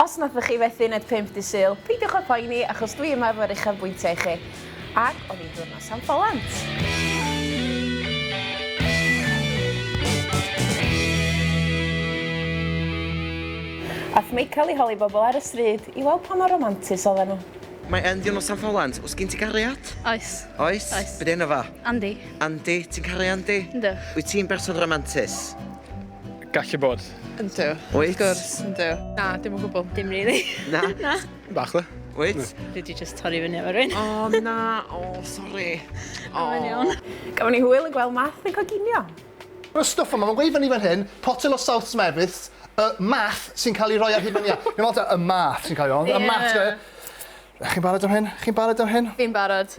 Os nathoch chi fethu yn et 5 Dydd Sul, peidiwch â phoeni achos dwi yma efo'r uchafbwyntiau i chi. Ac oedd hi'n ddiwrnos am Follant! Ath Michael i holi bobl ar y stryd i weld pa mor romantus oedden nhw. Mae e'n ddiwrnos am Follant, oes gen ti gariad? Oes. Oes? Oes. Be' 'di enw fo? Andy. Andy, ti'n caru Andy? Yndw. Wyt ti'n berson romantus? Gallu bod. Yndw. Wyt? Wrth gwrs, yndw. Na, dim o gwbl. Dim really. Na? Na. Bach dda. Wyt? Dwi di just torri fyny efo rwy'n. O, oh, na. O, oh, sori. O, oh. iawn. Gafon ni hwyl yn gweld math yn coginio. Mae stwff yma, mae'n gweud fan i fan hyn, potel o South Smeths, y math sy'n cael ei roi ar hyn o'n ia. Mae'n meddwl y math sy'n cael ei roi, y math. Chi'n barod am hyn? Chi'n barod am hyn? Fi'n barod.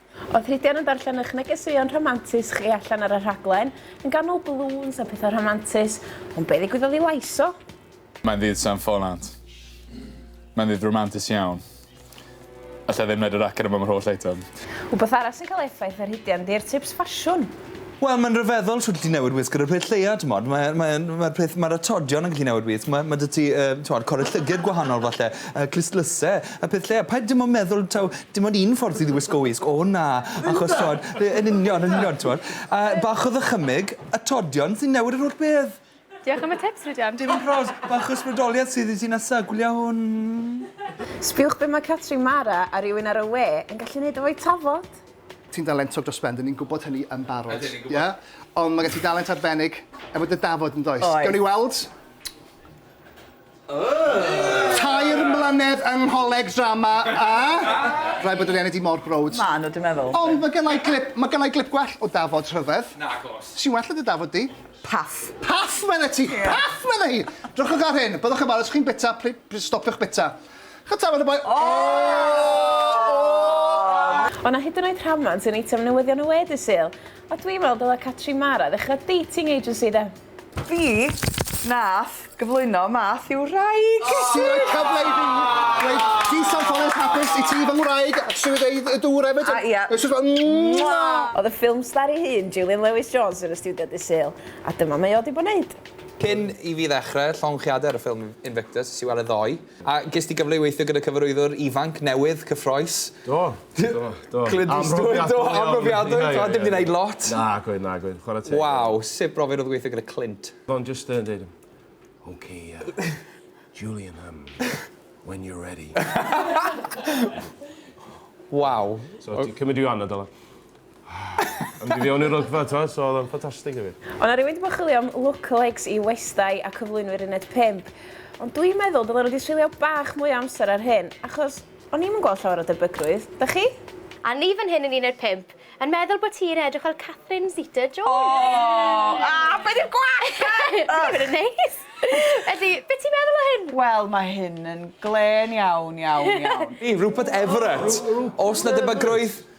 Oedd Rhydian yn darllen eich negeseuon rhamantus chi allan ar y rhaglen, yn ganol balŵns a pethau rhamantus, ond be ddigwyddodd i lais o? Mae'n ddydd San Ffonant. Mae'n ddydd ramantus iawn. Alla i ddim wneud y raglen yma am yr holl eitem. Wbath arall sy'n cael effaith ar Rhydian 'di'r tips ffasiwn. Wel ma'n ryfeddol shwt ti'n newid wisg ar y pryd lleia t'mod mae e mae e'n ma'r peth ma'r atodion yn gallu newid wisg ma' ma' 'dy ti yy t'mod cole llyged gwahanol falle yy clustlyse y peth lleia paid dim on' meddwl taw dim ond un ffordd ti 'di wisgo wisg o na achos t'mod yy yn union yn union t'mod a bach o ddychymyg atodion sy'n newid yr holl beth. Diolch am y tips, Rhydian. Dim yn proud, bach o ysbrydoliaeth sydd i ti nesa, gwylio hwn. Sbiwch be mae Catrin Mara a rywun ar y we yn gallu wneud efo'u tafod! Ti'n dalentog dros ben, 'dyn ni'n gwybod hynny yn barod. Ydyn ni'n gwybod. Ie? Ond mae gen ti dalent arbennig efo dy dafod, yn does? Oes. Gawn ni weld? Tair mlynedd yng ngholeg drama a rhaid bod wedi ennill hi mor browd. Maen nhw, dwi'n meddwl. Ond mae gynna i glip, mae gynna i glip gwell o Dafod rhyfedd. Nagos. Sy'n well na dy Dafod di. Paff. Paff medde ti! Ie. Paff medde hi! Drychwch ar hyn, byddwch yn falch os chi'n bita, pli- plis stopiwch bita. Ch'od tafod y boi? O' 'na hyd yn oed rhamant yn eitem newyddion y we dydd Sul. A dwi'n meddwl dyle Catrin Mara ddechrau dating agency de? Fi nath gyflwyno Math i'w wraig! Ti roi cyfle i fi dweud Peace and Follies Hapus i ti fy ngwraig a trio deud y dŵr efyd a ia. It's just like mwah! Oedd y ffilm star ei hun, Julian Lewis Jones yn y stiwdio dydd Sul a dyma mae o 'di bod neud. Cyn i fi ddechrau llongyfarchiadau ar y ffilm Invictus, es i weld e ddoe, a ges di gyfle i weithio gyda cyfarwyddwr ifanc, newydd, cyffroes. Do. Do, do. Clint Eastwood, do, amrofiadwy, do, dim di wneud lot. Na, gweud, na, gweud, chwarae teg. Waw, sut brofiad oedd gweithio gyda Clint? Do'n just yn dweud, OK, uh, Julian, um, when you're ready. Waw. So, ti'n cymryd i anna, dylan? Ond i fi o'n i'r rygfa t'o so odd o'n ffantastig i fi. O' 'na rywun 'di bod yn chwilio am lookalikes i Westai a cyflwynwyr uned pump ond dwi'n meddwl dylen nhw 'di treulio bach mwy o amser ar hyn achos o'n i'm yn gweld llawer o debygrwydd, 'dach chi? A ni fan hyn yn uned pump yn meddwl bo ti'n edrych fel Catherine Zeta Jones! Aww! Aww be di'r gwall te? Ych! Dwi ddim yn neis! Felly, be ti'n meddwl o hyn? Wel ma hyn yn glên iawn iawn iawn. Rupert Everett! Os 'na debygrwydd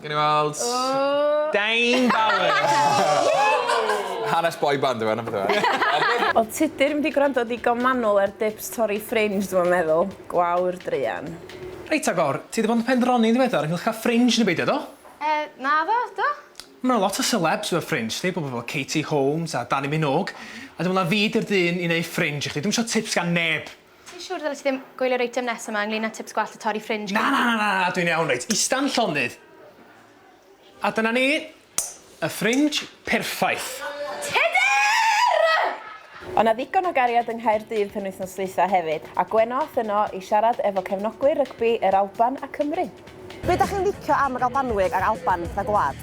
Gawn ni weld. Oh! Dane Bowers! Hanes boy band yw e, na beth yw e? Wel tydi'r mynd i gwrando digon manwl ar dips torri ffrinj dwi'm yn meddwl. Gwawr druan. Reit agor, ti 'di bod yn pendroni'n ddiweddar ynghylch cael ffrinj neu beidio, do? Yy, naddo, do. Ma' 'na lot o selebs efo ffrinj, ti, pobl fel Katie Holmes a Dannii Minogue, a dwi'n meddwl na fi 'di'r dyn i neu' ffrinj i chdi, dwi'm isio tips gan neb! Ti'n siwr ddylet ti ddim gwylio'r eitem nesaf 'ma ynglŷn â tips gwallt a torri ffrinj Na, na, na, na, na, dwi'n iawn, reit, ista'n llonydd. A dyna ni, y ffrinj perffaith. O' 'na ddigon o gariad yng Nghaerdydd penwythnos dwytha hefyd, a Gwenno ath yno i siarad efo cefnogwyr rygbi yr Alban a Cymru. Be' 'dach chi'n licio am yr Albanwyr a'r Alban fel gwlad?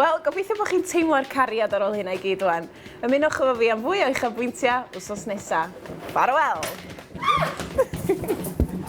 Wel, gobeithio bod chi'n teimlo'r cariad ar ôl hynna i gyd rwan. Ymunwch efo fi am fwy o uchafbwyntiau wsos nesa. Ffarwel!